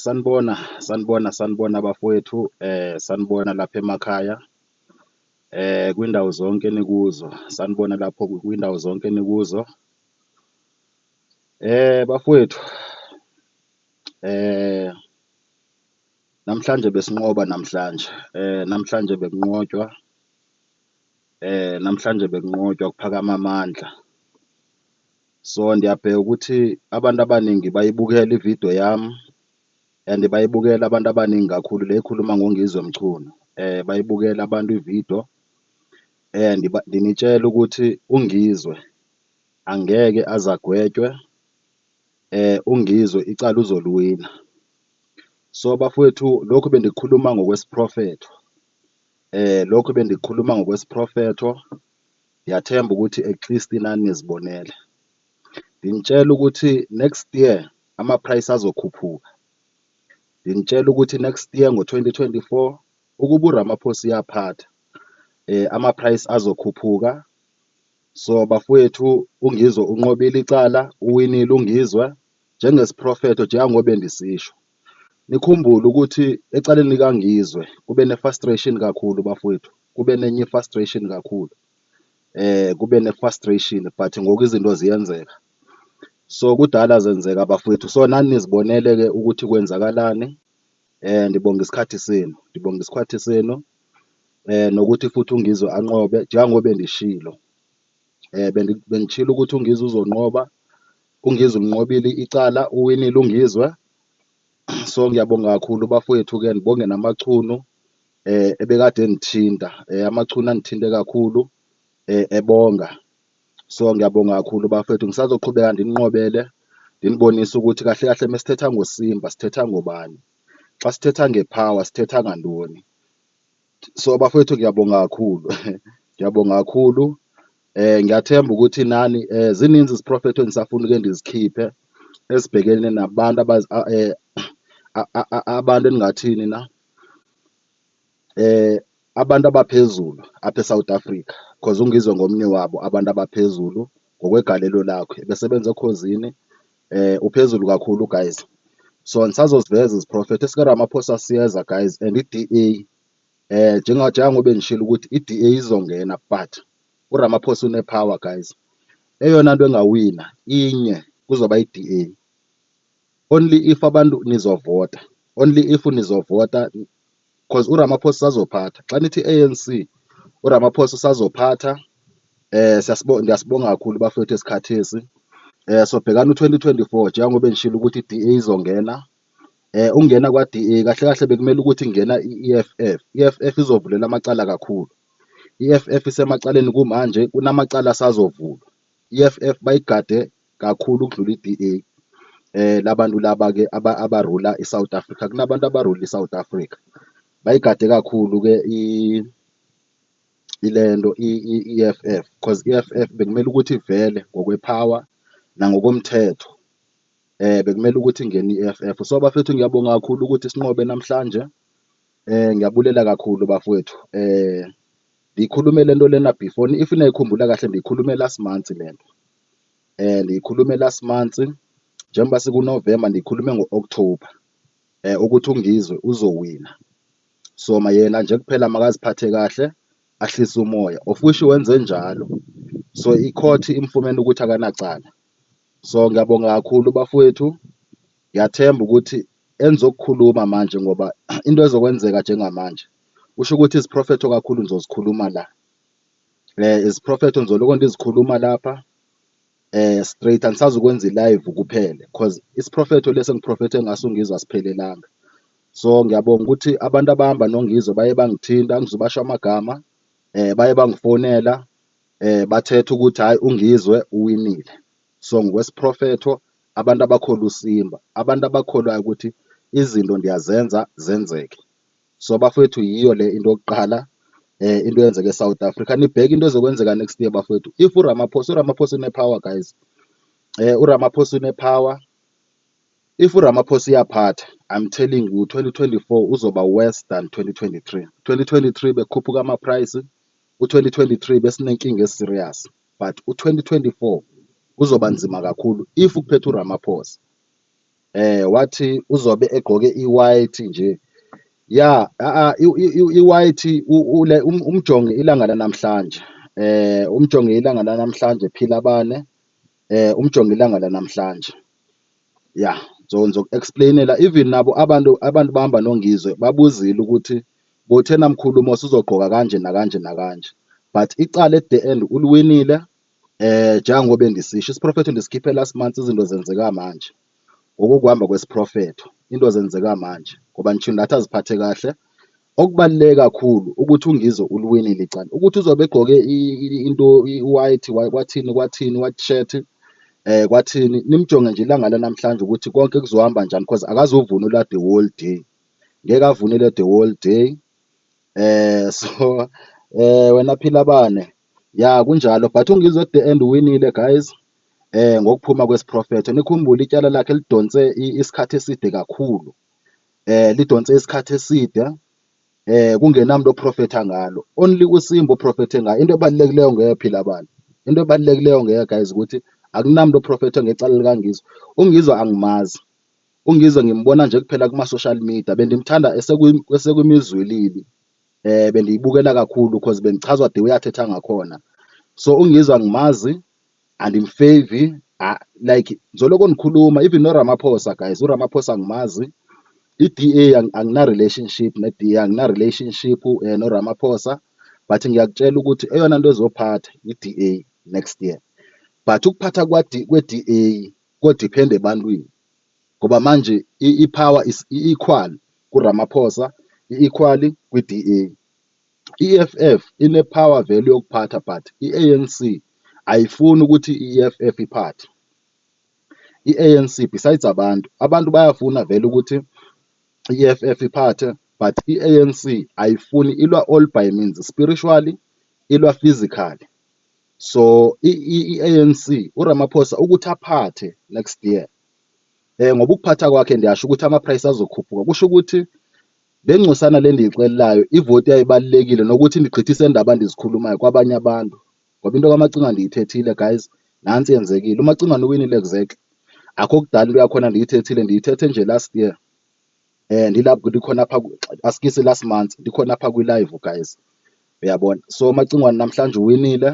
Sanibona, sanibona, sanibona bafowethu sanibona lapha emakhaya kwindawo zonke enikuzo, sanibona lapho kwindawo zonke enikuzo. Bafowethu namhlanje besinqoba namhlanje, namhlanje bekunqotshwa Eh namhlanje bekunqotshwa kuphakama amandla. So ndiyabheka ukuthi abantu abaningi bayibukela ividiyo yami and bayibukela abantu abaningi kakhulu le ikhuluma ngoNgizwe Mchunu. Eh bayibukela abantu ividiyo eh ndinitshela ukuthi uNgizwe angeke azagwetshwe eh uNgizwe icala uzoliwina. So bafowethu lokhu bendikukhuluma ngokwesiprofetho Eh lokhu bendikhuluma ngokwesiprofetho ngiyathemba ukuthi at least nani nizibonele. Nginitshela ukuthi next year ama-price azokhuphuka. Nginitshela ukuthi next year ngo-2024 ukuba uRamaphosa uyaphatha eh ama-price azokhuphuka. So bafowethu uNgizwe unqobile icala, uwinile uNgizwe njengesiprofetho njengangoba bendisisho. Nikhumbule ukuthi ecaleni likaNgizwe kube ne-frustration kakhulu bafowethu, kube nenye i-frustration kakhulu eh kube ne-frustration but ngoku izinto ziyenzeka. So kudala zenzeka bafowethu, so nani nizibonele-ke ukuthi kwenzakalani. Eh ndibonga isikhathi senu, ndibonga isikhathi senu eh nokuthi futhi uNgizwe anqobe njengoba bendishilo. Eh bengishilo ukuthi uNgizwe uzonqoba UNgizwe ulinqobile icala uwinile uNgizwe. So ngiyabonga kakhulu bafowethu ke ngibonge namachunu eh ebekade engithinta eh, amachunu angithinte kakhulu eh, ebonga. So ngiyabonga kakhulu bafowethu ngisazoqhubeka ndinqobele ndinibonise ukuthi kahle kahle mesithetha ngoSimba sithetha ngobani. Xa sithetha ngePower sithetha ngantoni. so bafowethu ngiyabonga kakhulu ngiyabonga kakhulu eh ngiyathemba ukuthi nani eh zininzi iziprofetho engisafuna ke ndizikhiphe esibhekene nabantu abazi a- eh, a- a- a- abantu engingathini na eh abantu abaphezulu apha eSouth Africa because ungizwe ngomnye wabo abantu abaphezulu ngokwegalelo lakhe besebenza ekhozini eh uphezulu kakhulu guys so nisazoziveza iziprofetho esikaRamaphosa siyeza guys and i-DA eh njengobe ngishilo ukuthi i-DA izongena but uRamaphosa unepower guys eyona nto engawina inye kuzoba i-DA only if abantu nizovota only if nizovota cause uRamaphosa sazophatha xa nithi ANC uRamaphosa sazophatha eh siyasibonga ngiyasibonga kakhulu bafethu esikhathesi eh sobhekana u2024 njengoba bengishilo ukuthi iDA izongena eh ungena kwaDA kahle kahle bekumele ukuthi ingena iEFF iEFF izovulela amacala kakhulu iEFF isemacaleni kumanje kunamacala asazovulwa iEFF bayigade kakhulu ukudlula iDA. Eh labantu laba ke aba abarula iSouth Africa kunabantu abarula iSouth Africa. Bayigade kakhulu ke i ilento iEFF because iEFF bekumele ukuthi ivele ngokwepower nangokomthetho. Eh bekumele ukuthi ingene iEFF. So bafethu ngiyabonga kakhulu ukuthi sinqobe namhlanje. Eh ngiyabulela kakhulu bafowethu. Eh ngikhulumele into lena before if nayikhumbula kahle ngikhulumela simanzi lento. Ngiyikhulume last month njengoba sikuNovemba ngikhulume ngo-October ukuthi uNgizwe uzowina so yena nje kuphela makaziphathe kahle ahlise umoya of which wenze njalo so i-court imfumene ukuthi akanacala. So ngiyabonga kakhulu bafwethu, ngiyathemba ukuthi enizokukhuluma manje ngoba into ezokwenzeka njengamanje kusho ukuthi iziprofetho kakhulu nizozikhuluma la Is Prophet Nzolukonde izikhuluma lapha straight angisazi ukwenza i-live kuphele cause isiprofetho lesi engiprofethe ngaso uNgizwe asiphelelanga. So ngiyabonga ukuthi abantu abahamba noNgizwe baye bangithinta angizubasho amagama baye bangifonela bathetha ukuthi hhayi uNgizwe uwinile. So ngokwesiprofetho abantu abakholwa uSimba, abantu abakholwayo ukuthi izinto ndiyazenza zenzeke. So bafowethu yiyo le into yokuqala eh into yenzeke eSouth Africa nibheke into ezokwenzeka next year bafowethu if uRamaphosa uRamaphosa une power guys eh uRamaphosa une power if uRamaphosa iyaphatha I'm telling you 2024 uzoba worse than 2023 2023 bekhuphuka ama price u2023 besinenkinga eserious but u2024 kuzoba nzima kakhulu if ukuphethe uRamaphosa Eh wathi uzobe egqoke i-white nje. Ya, a i-white ule um, umjonge ilanga lanamhlanje. Eh umjonge ilanga lanamhlanje phila bane. Eh umjonge ilanga lanamhlanje. Ya, so ngizoku-explainela even nabo abantu abantu bahamba noNgizwe babuzile ukuthi bothena mkhulumo sizogqoka kanje nakanje nakanje. But icala at the end uliwinile. Eh njengoba bengisisho isiprofetho ndisikhiphe last month izinto zenzeka manje. Ngokukuhamba kwesiprofetho into zenzeka manje ngoba ngisho nathi aziphathe kahle. Okubaluleke kakhulu ukuthi uNgizwe uliwinile icala. Ukuthi uzobe egqoke into i-white kwathini kwathini white shirt eh kwathini nimjonge nje ilanga lanamhlanje ukuthi konke kuzohamba njani because akazuvunula the whole day. Ngeke avunule the whole day. Eh so eh wena Philabane Ya kunjalo but uNgizwe at the end uwinile guys eh ngokuphuma kwesiprofetho nikhumbule ityala lakhe lidonse isikhathi eside kakhulu eh lidonse isikhathi eside eh kungenamntu oprofetha ngalo only usimba oprofethe ngayo into ebalulekileyo ngeke phila abantu into ebalulekileyo ngeke guys ukuthi akunamntu oprofethe ngecala likangizwe ungizwe angimazi ungizwe ngimbona nje kuphela kuma social media bendimthanda esekwimizwilili eh bendiyibukela kakhulu cause bendichazwa the way athetha ngakhona so ungizwa ngimazi andimfevi ah, like ngizoloko ndikhuluma even noramaphosa guys uramaphosa ngimazi i-DA angina-relationship ne-DA angina-relationship um eh, noRamaphosa but ngiyakutshela ukuthi eyona nto ezophatha i-DA next year but ukuphatha kwe-DA kodiphenda ebantwini ngoba manje i-power is i-equal kuRamaphosa, i-equal kwi-DA. I-EFF ine-power vele yokuphatha but i-ANC ayifuni ukuthi i-EFF iphathe. I-ANC besides abantu, abantu bayafuna vele ukuthi i-EFF iphathe but i-ANC ayifuni ilwa all by means, spiritually ilwa physically. So i-ANC uRamaphosa ukuthi aphathe next year eh ngoba ukuphatha kwakhe ndiyasho ukuthi ama-price azokhuphuka kusho ukuthi le ngcosana le ndiyixelelayo ivoti yayibalulekile nokuthi ndigqithise ndaba ndizikhulumayo kwabanye abantu ngoba into kamacingwane ndiyithethile guys nansi yenzekile umacingwane uwinile exactly akho kudala into yakhona ndiyithethile ndiyithethe nje last year Eh ndilapha ndikhona apha asikisi last month ndikhona apha kwi live guys. Uyabona? So Macingwane namhlanje uwinile.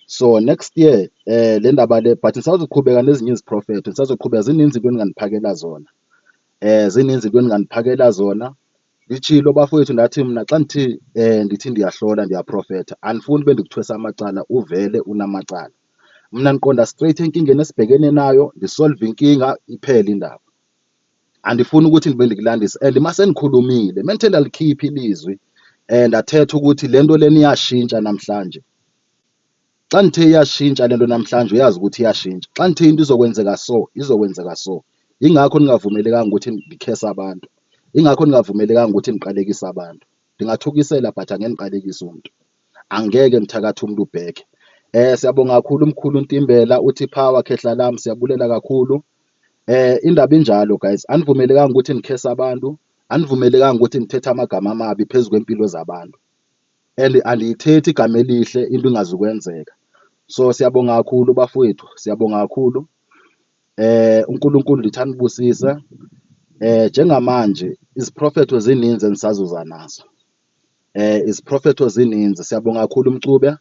So next year eh le ndaba le but ngisazoqhubeka nezinye iziprofetho ngisazoqhubeka zininzi into eningandiphakela zona. Eh zininzi into eningandiphakela zona. Ngitshilo bafowethu ndathi mina xa ndithi eh ndithi ndiyahlola ndiyaprofetha andifuni ube ndikuthwesa amacala uvele unamacala. Mina ndiqonda straight enkingeni esibhekene nayo ndisolve inkinga iphele indaba. andifuni ukuthi ngibe ndikulandisa and uma senikhulumile menthe lalikhipha ilizwi and athetha ukuthi le nto lena iyashintsha namhlanje xa ngithe iyashintsha le nto namhlanje uyazi ukuthi iyashintsha xa ngithe into izokwenzeka so izokwenzeka so yingakho ningavumelekanga ukuthi ndikhese abantu yingakho ningavumelekanga ukuthi niqalekise abantu ndingathukisela but angeke ndiqalekise umntu angeke mthakathi umntu ubheke um siyabonga kakhulu umkhulu ntimbela uthi power khehla lam siyabulela kakhulu Eh indaba injalo guys, anivumelekanga ukuthi nikhesa abantu, anivumelekanga ukuthi nithethe amagama amabi phezu kwempilo zabantu. And andiyithethi igama elihle into ingazukwenzeka. So siyabonga kakhulu bafowethu, siyabonga kakhulu. Eh uNkulunkulu ndithi anibusise. Eh njengamanje iziprofetho zininzi endisazuza nazo. Eh iziprofetho zininzi. Siyabonga kakhulu Mcube.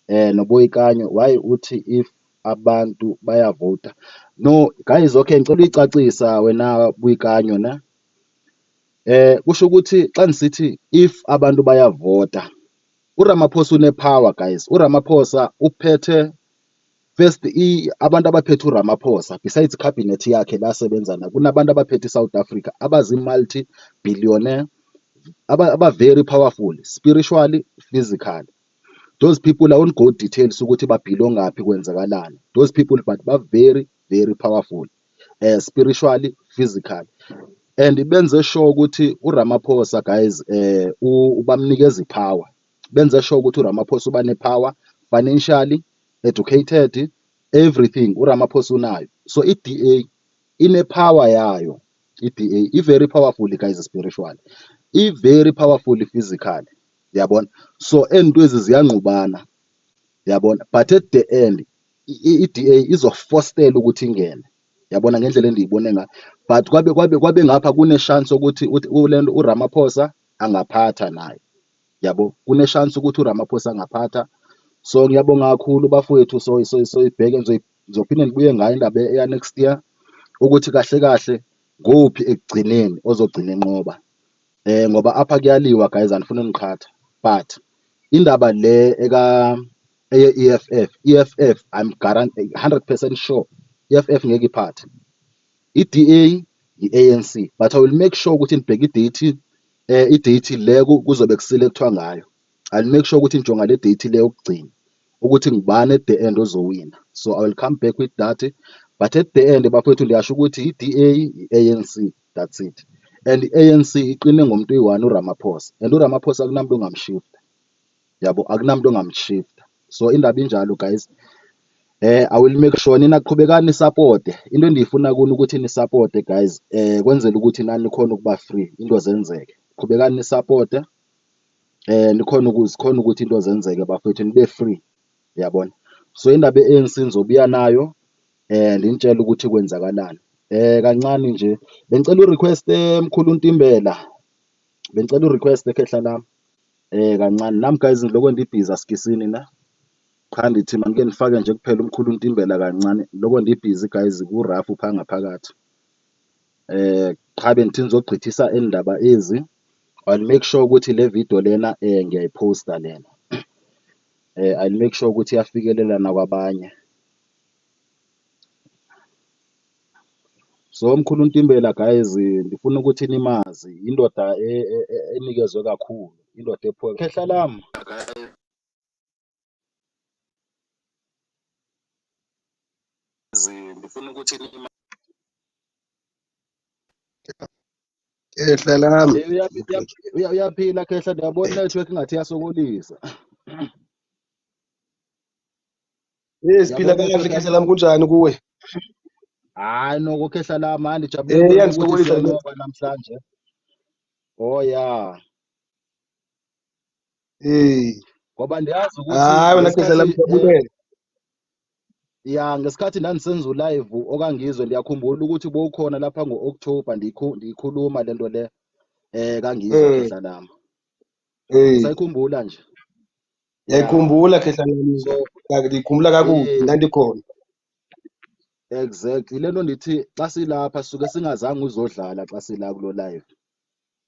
um noBoikanyo why uthi if abantu bayavota. No guys okay ngicela uyicacisa wena Boikanyo ne um kusho ukuthi xa ndisithi if abantu bayavota uRamaphosa unepower guys uRamaphosa uphethe first abantu abaphethe uRamaphosa besides cabinet yakhe la asebenza nayo kunabantu abaphethe iSouth Africa abazi-multi billionaire aba-very powerful spiritually physically. those people i won't go details ukuthi babhilongaphi kwenzakalani those people but ba very very powerful uh, spiritually physically and benze sure ukuthi uRamaphosa guys eh ubamnikeza ipower benze sure ukuthi uRamaphosa uba nepower financially educated everything uRamaphosa unayo so iDA inepower yayo iDA i very powerful guys spiritually i very powerful physically yabona so ezinto ezi ziyangqubana yabona but at the end i-DA izofostela ukuthi ingene yabona ngendlela endiyibone ngayo but kwabe kwabe kwabe ngapha kuneshansi ukuthi ulento uRamaphosa angaphatha naye yabo kuneshansi ukuthi uRamaphosa angaphatha so ngiyabonga kakhulu bafowethu so so so ibheke ngizophinde ngibuye ngayo indaba eya next year ukuthi kahle kahle kuphi ekugcineni ozogcina enqoba eh ngoba apha kuyaliwa guys andifuni niqhatha but indaba le eka eye EFF EFF I'm guaranteed 100% sure EFF ngeke iphathe iDA iANC but I will make sure ukuthi nibheke idate eh idate le kuzobe kusile kuthiwa ngayo I'll make sure ukuthi ngijonga le date le yokugcina ukuthi ngubani at the end ozowina so I will come back with that but at the end bafowethu ndiyasho ukuthi iDA iANC that's it and i-ANC iqine ngomuntu uyi-one uRamaphosa and uRamaphosa akunamuntu ongamshifta yabo akunamuntu ongamshifta so indaba injalo guys eh i will make sure nina qhubekani support into endiyifuna kuni ukuthi ni support guys eh kwenzela ukuthi nani khona ukuba free into zenzeke qhubekani ni support eh nikhona ukuzikhona ukuthi into zenzeke bafethu nibe free Uyabona? So indaba ye-ANC ngizobuya nayo eh nginitshela ukuthi kwenzakalani. Eh kancane nje bengicela urequest emkhulu eh, Ntimbela. Bengicela urequest ekhehla lami. Eh kancane nami guys ngiloko ndibhizi asikisini na. Cha ngithi manike nifake nje kuphela umkhulu Ntimbela kancane. Lokho ndibhizi guys ku rough phanga phakathi. Eh cha bengithi ngizogqithisa endaba ezi. I'll make sure ukuthi le video lena eh ngiyayiposta lena. eh, I'll make sure ukuthi iyafikelela nakwabanye so mkhulu Ntimbela guys ndifuna ukuthi nimazi indoda e- e- e- enikezwe kakhulu indoda ephuke khehla lam ndifuna ukuthi nima Khehla lami. Eh, uya- uya- uya- Uyaphila khehla ndiyabona inetwork ngathi iyasokolisa. Eh siphila Ndiyabona kahle inetwork khehla lami kunjani kuwe? hayi noko khehla lami hayi ndijabule Eh ukubona ukuthi iyangisokolisa le siyanqoba namhlanje. Oh ya. hey ngoba ndiyazi ukuthi hayi wena geza ngesikhathi eh, lamjabulele ya ngesikhathi ndandisenza ulive okangizwe ndiyakhumbula ukuthi bowukhona lapha ngo-october ndiyikhu- ndiyikhuluma le nto le eh kangizwe Mm, khehla lami hey usayikhumbula nje ya yayikhumbula khehla lami so ka- ndiyikhumbula kakubi eh ndandikhona exactly le nto ndithi xa silapha suke singazange uzodlala xa sila kulo live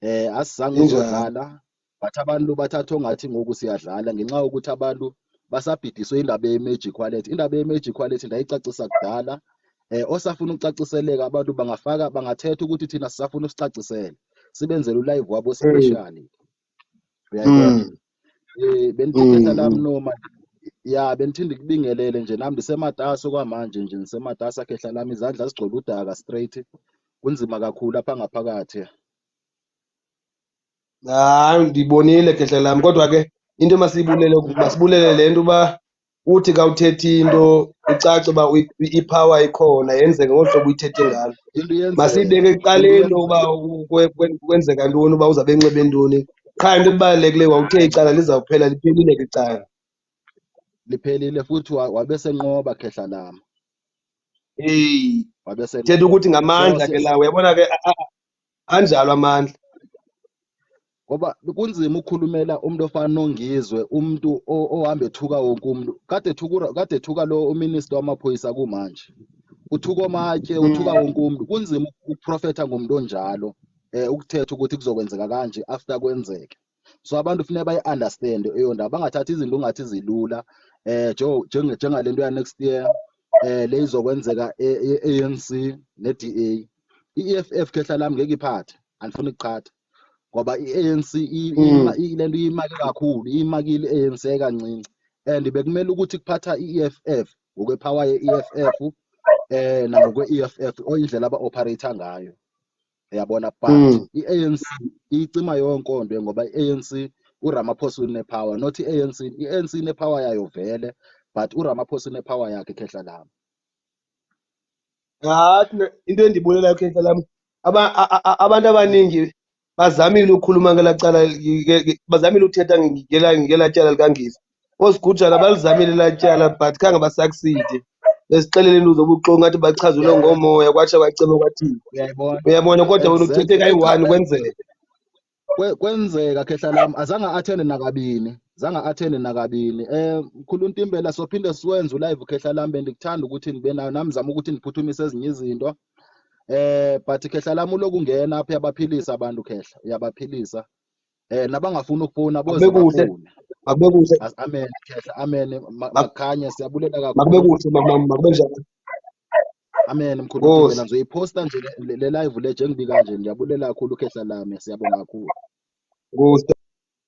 Eh asizange Injalo. uzodlala but abantu bathatha ongathi ngoku siyadlala ngenxa yokuthi abantu basabhidiswe indaba ye-magic wallet. Indaba ye-magic wallet ndayicacisa kudala. Eh osafuna ukucaciseleka abantu bangafaka bangathetha ukuthi thina sisafuna usicacisele. Sibenzele u-live wabo special. Uyayibona? Mm. Eh beniphetha lami mm. noma ya benithinde kubingelele nje nami ndisematasa kwamanje nje ngisematasa khehla lami izandla zigcwele udaka straight kunzima kakhulu apha ngaphakathi hayi ndibonile khehla lami kodwa ke into masibulele masibulele le nto uba uthi kawuthethi into icace uba ipower ikhona yenzeke ngolu hlobo uyithethe ngalo masiyibeke ekuqaleni uba kwenzeka ntoni uba uzawube enxibe ntoni qha into ebalulekileyo wawuthe icala lizawuphela liphelile ke icala liphelile futhi wabe senqoba khehla lama eyi thetha ukuthi ngamandla ke lawo uyabona ke anjalo amandla ngoba kunzima ukukhulumela umuntu ofana nongizwe umuntu ohamba ethuka wonke umuntu kade ethuka kade ethuka lo uminister wamaphoyisa kumanje uthuka omatshe mm. uthuka wonke umuntu kunzima ukuprofetha ngomuntu onjalo um ukuthetha ukuthi kuzokwenzeka kanje after kwenzeke so abantu kufuneka bayi-understande eyondaba bangathathi izinto ungathi zilula um njengale nto ya-next year um le izokwenzeka e-anc e, e ne-d a i-e f f khehla lami ngeke iphathe andifuni kuqhatha ngoba i-anc mm. le nto iyimake kakhulu iyimakile i-anc ekancinci and bekumele ukuthi kuphatha i-eff ngokwepower ye-eff um eh, nangokwe-eff oyindlela aba-operator ngayo uyabona but mm. i-anc iyicima yonke onto ngoba i-anc uramaphosa unepower not i-anc i-anc inepower yayo vele but uramaphosa unepower yakhe khehla lami hathi into endibulelayo khehla lami abantu abaningi bazamile ukukhuluma ngelacala bazamile ukuthetha ngela tyala likangisa osigujana balizamile latyala but khange basakuside besixelele into zobuxoki ngathi bachazelwe ngomoya kwatsha kwaceba kwathini uyayibona uyabona kodwa wena uthethe kayi-one kwenzeka Kwe- kwenzeka khehla lam azange athende nakabini zange athende nakabini um mkhulu ntimbela sophinde siwenze ulive khehla lam bendikuthanda ukuthi ndibe nayo nam zama ukuthi ndiphuthumise ezinye izinto um but khehla lam uloku ungena apha uyabaphilisa abantu khehla uyabaphilisa Eh nabangafuni ukufona boze Akubekuhle. bafone. Makubekuhle. As- Amen khehla amen Ma- makhanya siyabulela kakhulu. Makubekuhle mama makube njalo. Amen mkhulu Nkosi. Dingela ngizoyiposta nje le- le le live le njengibi kanje ngiyabulela kakhulu khehla lami siyabonga kakhulu. Nkosi.